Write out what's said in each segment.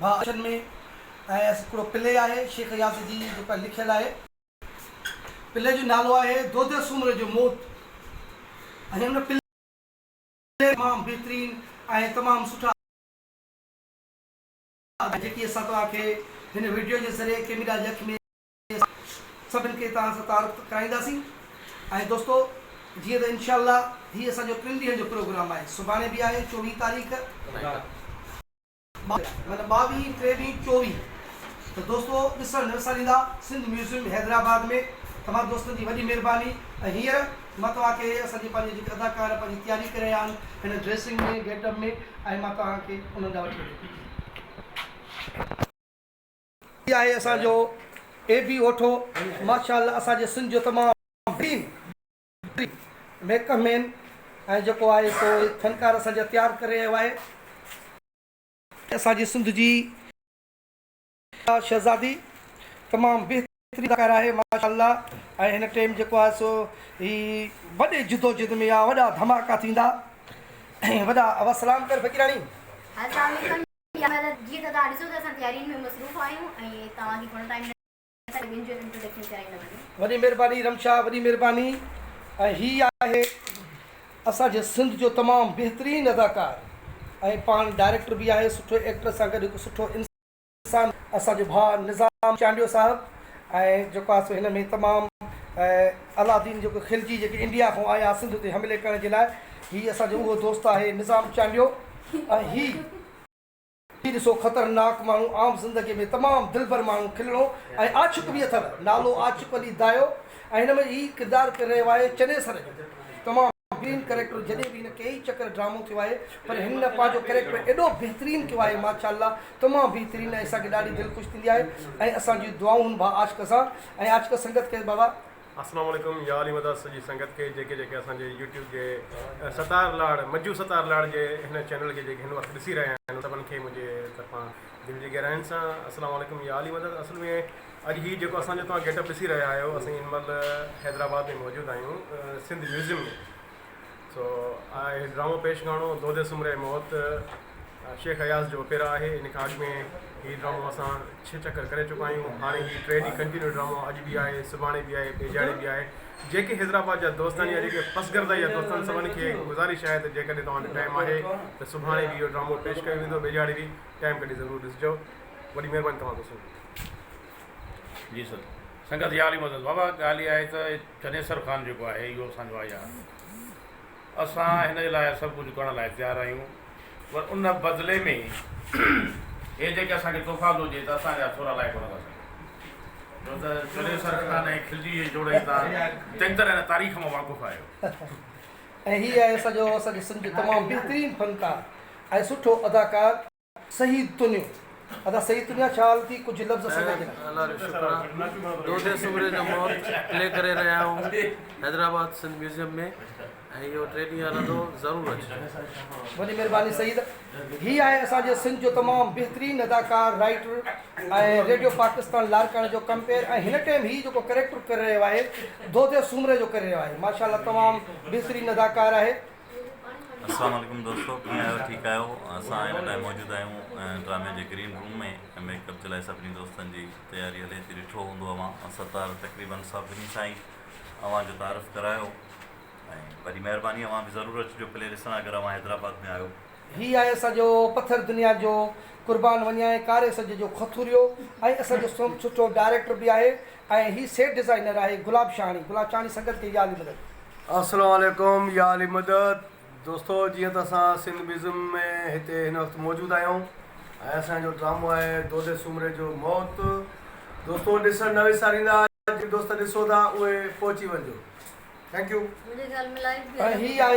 ڀاء اچن ۾ ۽ اس هڪڙو پلي آهي شيخ اياز جي جيڪا لکيل آهي. پلي جو نالو آهي دودي سومري جو موت ۽ ان پلي ۾ تمام بهترين ۽ تمام سٺا ادا جيڪي اسان توهان کي هن وڊيو جي ذريعي ڪيميرا جي اک ۾ اسان سڀن کي توهان سان تعارف ڪرائينداسين ۽ دوستو جيئن ته انشاء الله هي اسان جو ٽن ڏينهن جو پروگرام آهي سڀاڻي به آهي چوويهه تاريخ. معنيٰ ٻاويهين، ٽيويهين، چوويهين ته دوستو ڏسڻ نه وساريندا سنڌ ميوزيم حيدرآباد ۾، تمام دوستن جي وڏي مهرباني ۽ هينئر مان توهان کي اسان جي پنهنجي جيڪي اداڪار پنهنجي تياري ڪري رهيا آهن هن ڊريسنگ ۾ گيٽ اپ ۾ ۽ مان توهان کي انهن ڏانهن وٺي وڃي ٿو. هي آهي اسان جو اي بي اوٺو ماشاء الله اسان جي سنڌ جو تمام بهترين. وري ميڪ اپ مين ۽ جيڪو آهي سو فنڪار اسان جا تيار ڪري رهيو آهي ۽ اسان جي سنڌ جي اها شهزادي تمام بهترين اداڪاره آهي ماشاء الله ۽ هن ٽيم جيڪو آهي سو هي وڏي جدوجهد ۾ آ وڏا ڌماڪا ٿيندا ۽ وڏا وسلام ڪر فقيراڻي. السلام عليڪم يا حضرت جيئن ته توهان ڏسو ٿا اسان تيارين ۾ مصروف آهيون ۽ توهان کي گهڻو ٽائيم نه. وڏي مھرباني رم شاھ وڏي مھرباني ۽ ھي آھي اسان جي سنڌ جو تمام بهترين اداڪار ۽ پاڻ ڊائريڪٽر به آھي سٺو ايڪٽر سان گڏ ھڪ سٺو انسان اسان جو ڀاء نظام چانڊيو صاحب ۽ جيڪو آھي سو ھن ۾ تمام الادين جيڪو کلجي جيڪي انڊيا کان آيا سنڌ تي حملي ڪرڻ جي لاء ھي اسان جو اھو دوست آھي نظام چانڊيو ۽ ھي هي ڏسو خطرناڪ ماڻهو عام زندگي ۾ تمام دلبر ماڻهو کلڻو ۽ عاشق به اٿر نالو عاشق علي دايو ۽ هن ۾ هي ڪردار ڪري رهيو آهي چنيسر جو تمام بهترين ڪريڪٽر جڏهن به هن ڪيئي چڪر ڊرامو ٿيو آهي پر هن پنهنجو ڪريڪٽر ايڏو بهترين ڪيو آهي ماشاءالله تمام بهترين ۽ اسان کي ڏاڍي دل خوش ٿيندي آهي ۽ اسان جون دعائون هن ڀا عاشق سان ۽ عاشق سنگت کي بابا اسلام عليڪم يا علي مدد سڄي سنگت کي جيڪي جيڪي اسان جي يوٽيوب جي ستار لاڙ مجو ستار لاڙ جي هن چينل کي جيڪي هن وقت ڏسي رهيا آهن ان سڀن کي منهنجي طرفان دل جي گهراين سان اسلام عليڪم يا علي مدد اصل ۾ اڄ هي جيڪو اسان جو توهان گيٽ اپ ڏسي رهيا آهيو اسين هن مهل حيدرآباد ۾ موجود آهيون سنڌ ميوزيم ۾ سو آء ڊرامو پيش گاڻو دودي سمري موت شيخ اياز جو پيرا آهي ان کان اڳ ۾ هي ڊرامو اسان ڇهه چڪر ڪري چڪا آهيون هاڻي هي ٽي ڏينهن ڪنٽينيو ڊرامو اڄ به آهي سڀاڻي به آهي ٻيجاڙي به آهي جيڪي حيدرآباد جا دوست آهن يا جيڪي پسگردا جا دوست آهن سڀن کي گذارش آهي ته جيڪڏهن توهان وٽ ٽائم آهي ته سڀاڻي به اهو ڊرامو پيش ڪيو ويندو ٻيجاڙي به ٽائم ڪڍي ضرور ڏسجو وڏي مهرباني توهان دوستن جي جي سر سنگت يا علي مدد بابا ڳالهه اها آهي ته چنيسر خان جيڪو آهي اهو اسان جو آهي اسان هن جي لاء سڀ ڪجهه ڪرڻ لاء تيار آهيون پر ان بدلي ۾ هي جيڪي اسان کي تحفا ٿو ڏي ته اسان جا ٿورا لائق نه ٿا سگهون جو ته چنيسر خان ۽ خلجي جي جوڙي تان چڱي طرح هن تاريخ مان واقف آهيو ۽ هي آهي سڄو اسان جو سنڌ جو تمام بهترين فنڪار ۽ سٺو اداڪار. سيد تنيو ادا سيد تنيا خيال ٿي ڪجھ لفظ اسان کي ڏيکار. الله جو شڪر آ دودي سومري جو مور پلي ڪري رهيا آهون حيدرآباد سنڌ ميوزيم ۾ ۽ اهو ٽي ڏينهن هلندو ضرور اچجو. وڏي مھرباني سيد. هي آهي اسان جي سنڌ جو تمام بهترين اداڪار، رائيٽر ۽ ريڊيو پاڪستان لاڙڪاڻي جو ڪمپيئر ۽ هن ٽيم هي جيڪو ڪريڪٽر ڪري رهيو آهي دودي سومري جو ڪري رهيو آهي ماشاء الله تمام بهترين اداڪار آهي. السلام عليڪم دوستو ڪيئن آهيو ٺيڪ آهيو اسان هن ٽائم موجود آهيون ڊرامي جي گرين روم ۾ ۽ ميڪ اپ جي لاء سڀني دوستن جي تياري هلي ٿي ڏٺو هوندو اوهان ستار تقريبا سڀني سان ئي اوهان جو تعارف ڪرايو ۽ وڏي مهرباني اوهان به ضرور اچجو پلي ڏسڻ اگر اوهان حيدرآباد ۾ آهيو هي آهي اسان جو پٿر دنيا جو قربان وڃائين ڪاري سج جو کٿوريو ۽ اسان جو سوم سٺو ڊائريڪٽر به آهي ۽ هي سيٽ ڊزائنر آهي گلاب شاهاڻي گلاب شاهاڻي سنگت ڪئي يا علي مدد. السلام عليڪم يا علي مدد دوستو جيئن ته اسان سنڌ ميوزم ۾ هتي هن وقت موجود آهيون ۽ اسان جو ڊرامو آهي دودي سومري جو موت دوستو ڏسڻ نه وساريندا جي دوست ڏسو ٿا اهي پهچي وڃجو ٿينڪ يو. ۽ هي آهي.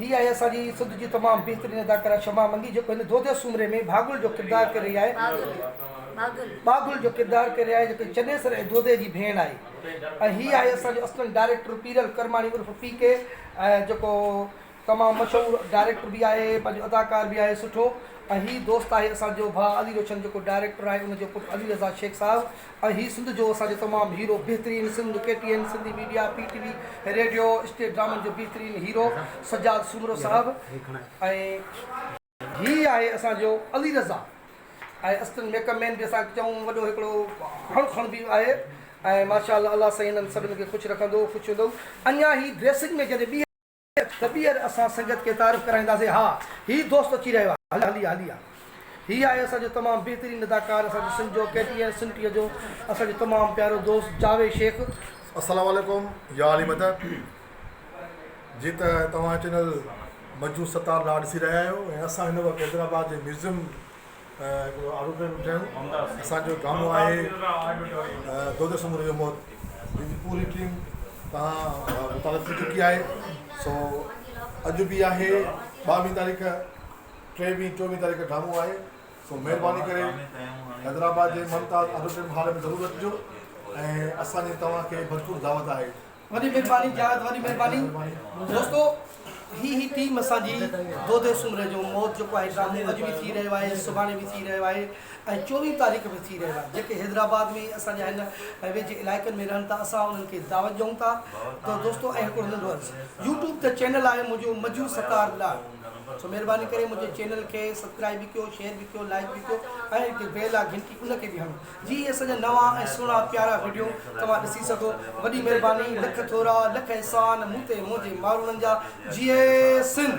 هي آهي اسان جي سنڌ جي تمام بهترين اداڪارا شمع منگي جيڪو هن دوديه سومري ۾ ڀاڳل جو ڪردار ڪري رهي آهي ڀاڳل جو ڪردار ڪري رهي آهي جيڪو چنيسر ۽ دوديه جي ڀيڻ آهي ۽ هي آهي اسان جو اسسٽنٽ ڊائريڪٽر پيرل ڪرماڻي عرف پي ڪي ۽ جيڪو تمام مشهور ڊائريڪٽر به آهي پنهنجو اداڪار به آهي سٺو ۽ هي دوست آهي اسان جو ڀاء علي روشن جيڪو ڊائريڪٽر آهي ان جو پٽ علي رضا شيخ صاحب ۽ هي سنڌ جو اسان جو تمام هيرو بهترين Sindh K T N Sindhi media P T V radio stage ڊرامن جو بهترين هيرو سجاد سومرو صاحب ۽ هي آهي اسان جو علي رضا ۽ اسٽن ميڪ اپ مين به اسان چئون وڏو هڪڙو هڻ کڻ به آهي ۽ ماشاء الله الله سائين هنن سڀن کي خوش رکندو خوش هوندو اڃا هي ڊريسنگ ۾ جڏهن ٻيهر. ته ٻيهر اسان سنگت کي تعارف ڪرائينداسين. ها هي دوست اچي رهيو آهي. هليا هليا هليا. هي آهي اسان جو تمام بهترين اداڪار اسان جو سنڌ جو ڪي ٽي اين سنٽيء جو اسان جو تمام پيارو دوست جاويد شيخ. السلام عليڪم يا علي مدد جي ته توهان چينل منجو ستار لاء ڏسي رهيا آهيو ۽ اسان هن وقت حيدرآباد جي ميوزيم. هڪڙو آڏو پيو ٺهيو اسان جو گامو آهي دودي سموري جو موت جن جي پوري ٽيم تان متعلق ٿي چڪي آهي سو اڄ به آهي ٻاويهه تاريخ ٽيويهه چوويهه تاريخ ڊامو آهي سو مهرباني ڪري حيدرآباد جي ممتاز آڊو ٽيم هال ۾ ضرور اچجو ۽ اسان جي توهان کي ڀرپور دعوت آهي وڏي مھرباني جاويد وڏي مھرباني دوستو ھي ھي ٽيم اسان جي دودي سومري جو موت جيڪو آھي ڊرامو اڄ به ٿي رھيو آھي سڀاڻي به ٿي رھيو آھي ۽ چوويھين تاريخ به ٿي رھيو آھي جيڪي حيدرآباد ۾ اسان جا ھن ويجھي علائقن ۾ رھن ٿا اسان انھن کي دعوت ڏيون ٿا ته دوستو ۽ ھڪڙو ننڍو عرض يوٽيوب تي چينل آھي منھنجو مجھو ستار لاڙ سو مھرباني ڪري منھنجي چينل کي سبڪرائب به ڪيو شيئر به ڪيو لائڪ به ڪيو ۽ جيڪي بيل آ گھنٽي ان کي به ھڻو جي اهي اسان جا نوان ۽ سهڻا پيارا وڊيو توهان ڏسي سگهو وڏي مهرباني لک ٿورا لک احسان مون تي منهنجي ماروڻن جا جئي سنڌ.